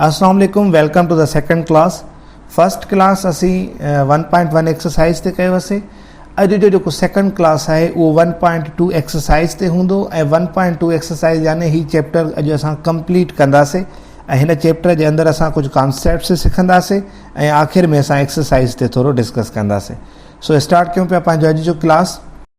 اسلام عليڪم welcome to the second class first class اسين ون پوائنٽ ون ايڪسرسائز تي ڪيو هسي اڄ جو جيڪو سيڪنڊ ڪلاس آهي اهو ون پوائنٽ ٽو ايڪسرسائز تي هوندو ۽ ون پوائنٽ ٽو ايڪسرسائز يعني هي چيپٽر اڄ اسان ڪمپليٽ ڪنداسي ۽ هن چيپٽر جي اندر اسان ڪجهه ڪانسيپٽس سکنداسي ۽ آخر ۾ اسان ايڪسرسائز تي ٿورو ڊسڪس ڪنداسي سو اسٽارٽ ڪيون پيا پنهنجو اڄ جو class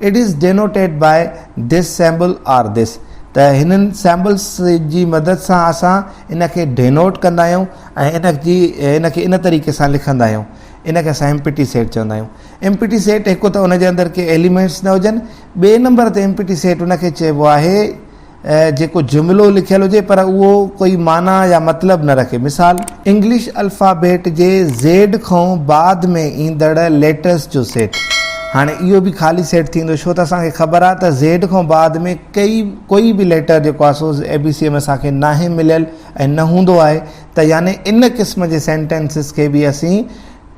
It is denoted by this symbol or this ته هنن سيمبلس جي مدد سان اسان ان کي ڊينوٽ ڪندا آهيون ۽ ان جي ان کي ان طريقي سان لکندا آهيون ان کي اسان ايمپٽي سيٽ چوندا آهيون ايمپٽي سيٽ هڪ ته ان جي اندر ڪي ايليمينٽس نه هجن ٻئي نمبر تي ايمپٽي سيٽ ان کي چئبو آهي جيڪو جملو لکيل هجي پر اهو ڪوئي معنيٰ يا مطلب نه رکي. مثال. انگلش الفابيٽ جي زيڊ کئون بعد ۾ ايندڙ ليٽرس جو سيٽ. هاڻي اهو به خالي سيٽ ٿيندو ڇو ته اسان کي خبر آهي ته زيڊ کئون بعد ۾ ڪئي ڪوئي به ليٽر جيڪو آهي سو اي بي سيء ۾ اسان کي ناهي مليل ۽ نه هوندو آهي ته يعني ان قسم جي سينٽينسز کي به اسين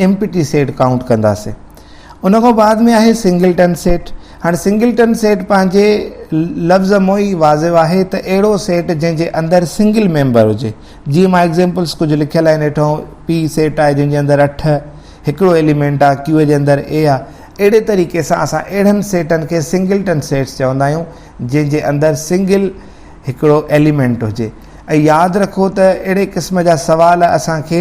امپٽي سيٽ ڪائونٽ ڪنداسين. ان کان بعد ۾ آهي سنگلٽن سيٽ. هاڻ سنگلٽن سيٽ پنهنجي لفظ مون ئي واضح آهي ته اهڙو سيٽ جنهن جي اندر سنگل ميمبر هجي. جيئن مان ايگزيمپلز ڪجهه لکيل آهن هيٺون P سيٽ آهي جنهن جي اندر اٺ هڪڙو ايليمينٽ آهي Q جي اندر A آهي. اهڙي طريقي سان اسان اهڙن سيٽن کي سنگلٽن سيٽس چوندا آهيون جنهن جي اندر سنگل هڪڙو ايليمينٽ هجي ۽ ياد رکو ته اهڙي قسم جا سوال اسان کي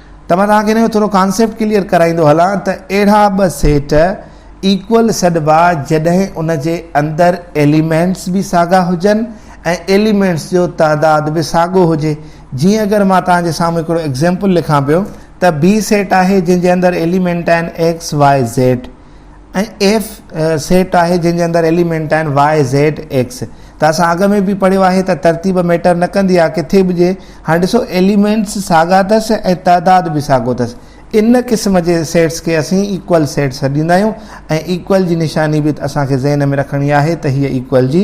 ته مان توهان کي ان جو ٿورو ڪانسيپٽ ڪليئر ڪرائيندو هلان ته اهڙا ٻه سيٽ ايڪول سڏبا جڏهن ان جي اندر ايليمينٽس به ساڳا هجن ۽ ايليمينٽس جو تعداد به ساڳو هجي جيئن اگر مان توهان جي سامهون هڪڙو ايگزيمپل لکان پيو ته بي سيٽ آهي جنهن جي اندر ايليمينٽ آهن X Y Z ۽ F set آهي جنهن جي اندر ايليمينٽ آهن واء زيڊ ايڪس ته اسان اڳ ۾ به پڙهيو آهي ته ترتيب ميٽر نه ڪندي آهي ڪٿي به جي هاڻي ڏسو ايليمينٽس ساڳا اٿس ۽ تعداد به ساڳو اٿس ان قسم جي سيٽس کي اسين ايڪول سيٽ سڏيندا آهيون ۽ ايڪول جي نشاني به اسان کي ذهن ۾ رکڻي آهي ته هيء ايڪول جي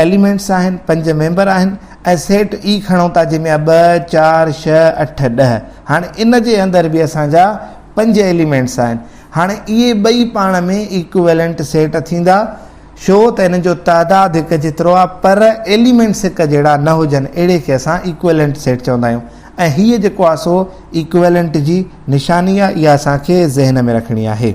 ايليمينٽس آهن، پنج ميمبر آهن ۽ سيٽ E کڻون ٿا جنهن ۾ آهي ٻه، چار، ڇهه، اٺ، ڏهه. هاڻي ان جي اندر به اسان جا پنج ايليمينٽس آهن. هاڻي اهي ٻئي پاڻ ۾ ايڪويلنٽ سيٽ ٿيندا ڇو ته انهن جو تعداد هڪ جيترو آهي پر ايليمينٽس هڪ جهڙا نه هجن اهڙي کي اسان ايڪويلنٽ سيٽ چوندا آهيون ۽ هيء جيڪو آهي سو ايڪويلنٽ جي نشاني آهي اها اسان کي ذهن ۾ رکڻي آهي.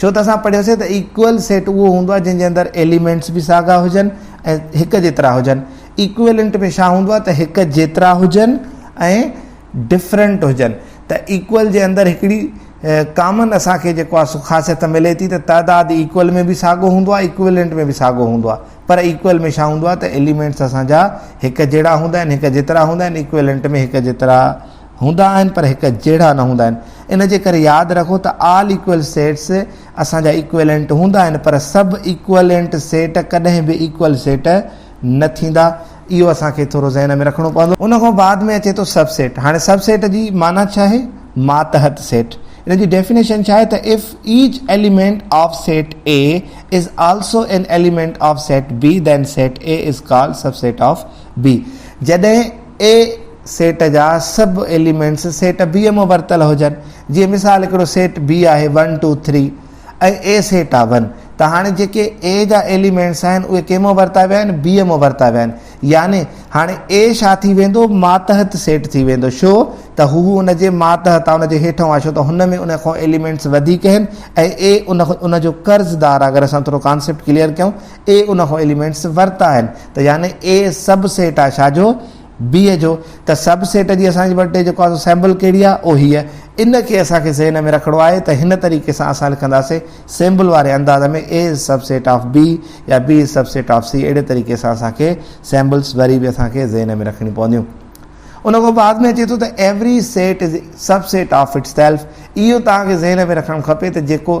ڇو ته اسان پڙهيوسين ته ايڪوئل سيٽ اهو هوندو آهي جنهن جي اندر ايليمينٽس به ساڳا هجن ۽ هڪ جيترا هجن ايڪوئلنٽ ۾ ڇا هوندو آهي ته هڪ جيترا هجن ۽ ڊفرنٽ هجن ته ايڪوئل جي اندر هڪڙي ڪامن اسان کي جيڪو آهي سو خاصيت ملي ٿي ته تعداد ايڪوئل ۾ به ساڳو هوندو آهي ايڪوئلنٽ ۾ به ساڳو هوندو آهي پر ايڪوئل ۾ ڇا هوندو آهي ته ايليمينٽس اسان جا هڪ جهڙا هوندا آهن هڪ جيترا هوندا آهن ايڪوئلنٽ ۾ هڪ جيترا هوندا آهن پر هڪ جهڙا نه هوندا آهن ان جي ڪري ياد رکو ته آل ايڪوئل سيٽس اسان جا ايڪوئلنٽ هوندا آهن پر سب ايڪوئلنٽ سيٽ ڪڏهن به ايڪوئل سيٽ نه ٿيندا اهو اسان کي ٿورو ذهن ۾ رکڻو پوندو ان کان بعد ۾ اچي ٿو سب سيٽ هاڻي سب سيٽ جي معنيٰ ڇا آهي ماتحت سيٽ ان جي ڊيفينيشن ڇا آهي ته if each element of set A is also an element of set B then set A is called subset of B جڏهن اي سيٽ جا سڀ ايليمينٽس سيٽ بيء مان ورتل هجن، جيئن مثال هڪڙو سيٽ بي آهي one two three ۽ A set آهي ون ته هاڻي جيڪي اي جا ايليمينٽس آهن اهي ڪنهن مان ورتا ويا آهن بيء مان ورتا ويا آهن يعني هاڻي اي ڇا ٿي ويندو ماتحت سيٽ ٿي ويندو ڇو ته هو ان جي ماتحت آهي ان جي هيٺئون آهي ڇو ته هن ۾ ان کان ايليمينٽس وڌيڪ آهن ۽ اي ان جو قرضدار آهي اگر اسان ٿورو ڪانسيپٽ ڪليئر ڪيون اي ان کان ايليمينٽس ورتا آهن ته يعني اي سب سيٽ آهي ڇا جو؟ بي جو ته سب سيٽ جي اسان وٽ جيڪو آهي سو سيمبل کهڙي آهي او هيء ان کي اسان کي ذهن ۾ رکڻو آهي ته هن طريقي سان اسان لکنداسين سيمبل واري انداز ۾ A is subset of B يا B is subset of C اهڙي طريقي سان اسان کي سيمبلس وري به اسان کي ذهن ۾ رکڻي پونديون ان کان بعد ۾ اچي ٿو ته every set is subset of itself اهو توهان کي ذهن ۾ رکڻ کپي ته جيڪو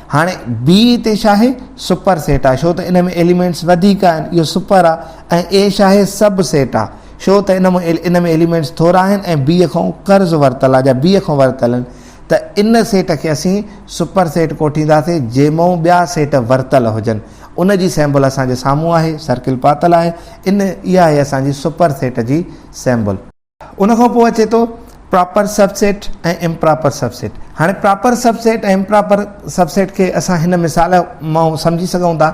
هاڻي بي تي ڇا آهي سپر سيٽ آهي ڇو ته ان ۾ ايليمينٽس وڌيڪ آهن اهو سپر آهي ۽ اي ڇا آهي سب سيٽ آهي ڇو ته ان ۾ ان ۾ ايليمينٽس ٿورا آهن ۽ بي کان قرض ورتل آهي جا بي کان ورتل آهن ته ان سيٽ کي اسين سپر سيٽ ڪوٺينداسي جنهن مئون ٻيا سيٽ ورتل هجن ان جي سيمبل اسان جي سامهون آهي سرڪل پاتل آهي ان اها آهي اسان جي سپر سيٽ جي سيمبل ان کان پوء اچي ٿو proper subset ۽ improper subset هاڻي proper subset ۽ improper subset کي اسان هن مثال مان سمجهي سگهون ٿا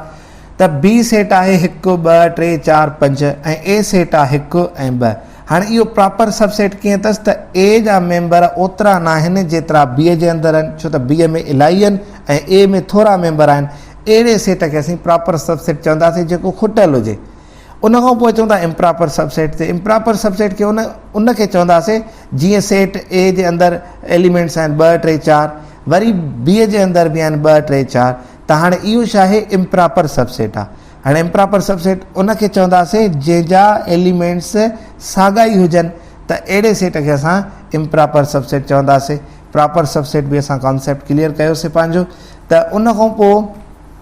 ته بي سيٽ آهي هڪ ٻه ٽي چار پنج ۽ اي سيٽ آهي هڪ ۽ ٻه هاڻي اهو پراپر سب سيٽ ڪيئن اٿس ته اي جا ميمبر اوترا ناهن جيترا بي جي اندر آهن ڇو ته بي ۾ الائي آهن ۽ اي ۾ ٿورا ميمبر آهن اهڙي سيٽ کي اسين پراپر سب سيٽ چونداسين جيڪو کٽيل هجي ان کان پوء اچون ٿا امپراپر سب سيٽ تي امپراپر سب سيٽ کي ان ان کي چونداسين جيئن سيٽ اي جي اندر ايليمينٽس آهن ٻه ٽي چار وري بي جي اندر به آهن ٻه ٽي چار ته هاڻي اهو ڇا آهي امپراپر سب سيٽ آهي هاڻي امپراپر سب سيٽ ان کي چونداسين جنهن جا ايليمينٽس ساڳا ئي هجن ته اهڙي سيٽ کي اسان امپراپر سب سيٽ چونداسين پراپر سب سيٽ به اسان ڪانسيپٽ ڪليئر ڪيوسي پنهنجو ته ان کان پوء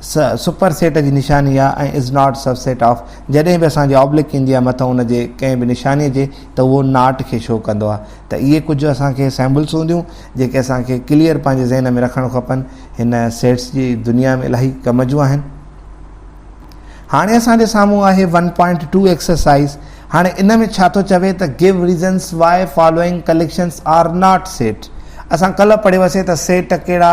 س سپر سيٽ جي نشاني آ ۽ is not subset of جڏهن به اسان کي آبلڪ ايندي آ مٿو ان جي ڪنهن به نشاني جي ته اهو ناٽ کي شو ڪندو آ ته اهي ڪجهه اسان کي سيمبلس هونديون جيڪي اسان کي ڪليئر پنهنجي ذهن ۾ رکڻ کپن هن سيٽس جي دنيا ۾ الاهي ڪم جون آهن هاڻي اسان جي سامهون آهي 1.2 ايڪسرسائز هاڻي ان ۾ ڇا ٿو چوي ته give reasons why following collections are not set اسان ڪلهه پڙهيو هوسي ته سيٽ ڪهڙا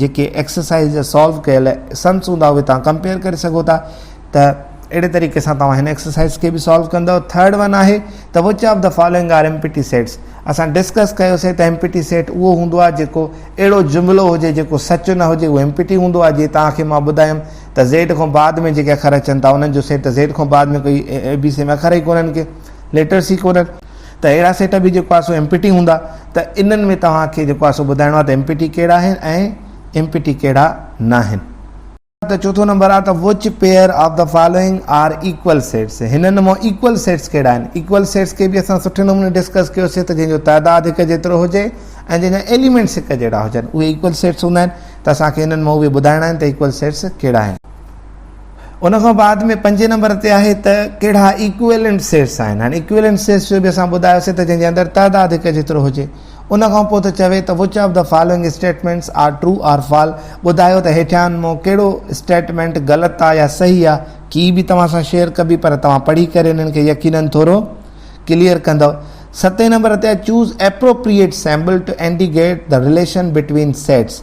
جيڪي ايڪسرسائز جا سالو ڪيل سنس هوندا اهي تان ڪمپيئر ڪري سگهو ٿا ته اهڙي طريقي سان توهان هن ايڪسرسائز کي به سالو ڪندو ٿرڊ ون آهي ته which of the following are empty sets اسان ڊسڪس ڪيوسي ته ايم پي ٽي سيٽ اهو هوندو آهي جيڪو اهڙو جملو هجي جيڪو سچ نه هجي اهو ايم پي ٽي هوندو آهي جي توهان کي مان ٻڌايم ته زيڊ کان بعد ۾ جيڪي اکر اچن ٿا انهن جو سيٽ زيڊ کان بعد ۾ ڪوئي اي بي سي ۾ اکر ئي ڪونهن ڪي ليٽرس ئي ڪونهن ته اهڙا سيٽ به جيڪو آهي سو ايم پي ٽي هوندا ته انهن ۾ توهان کي جيڪو آهي سو ٻڌائڻو آهي ته ايم پي ٽي ڪهڙا آهن ۽ ايم پي ٽي ڪهڙا ناهن. ته چوٿون نمبر آهي ته which pair of the following are equal sets هنن مان ايڪول سيٽس ڪهڙا آهن. ايڪول سيٽس کي به اسان سٺي نموني ڊسڪس ڪيو سي ته جنهن جو تعداد هڪ جيترو هجي ۽ جنهن جا ايليمينٽس هڪ جهڙا هجن اهي ايڪول سيٽس هوندا آهن ته اسان کي هنن مان اهي ٻڌائڻا آهن ته ايڪول سيٽس ڪهڙا آهن. ان کان بعد ۾ پنجين نمبر تي آهي ته ڪهڙا ايڪويلنٽ سيٽس آهن. هاڻي ايڪويلنٽ سيٽس جو به اسان ٻڌايوسي ته جنهن جي اندر تعداد هڪ جيترو هجي. ان کان پوء ته چوي ته which of the following statements are true or false, ٻڌايو ته هيٺيان مان ڪهڙو اسٽيٽمينٽ غلط آهي يا صحيح آهي. ڪي به توهان سان شيئر ڪبي پر توهان پڙهي ڪري انهن کي يقينن ٿورو ڪليئر ڪندؤ. ستين نمبر تي آهي choose appropriate symbol to indicate the relation between sets.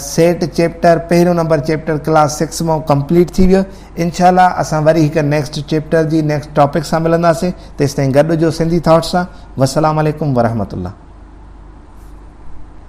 Set chapter پهريون نمبر چيپٽر ڪلاس سڪس مئو ڪمپليٽ ٿي ويو انشاء الله اسان وري هڪ نيڪسٽ چيپٽر جي نيڪسٽ ٽاپڪ سان ملنداسين تيستائين گڏ جو سنڌي ٿاٽس سان وسلام عليڪم ورحمت الله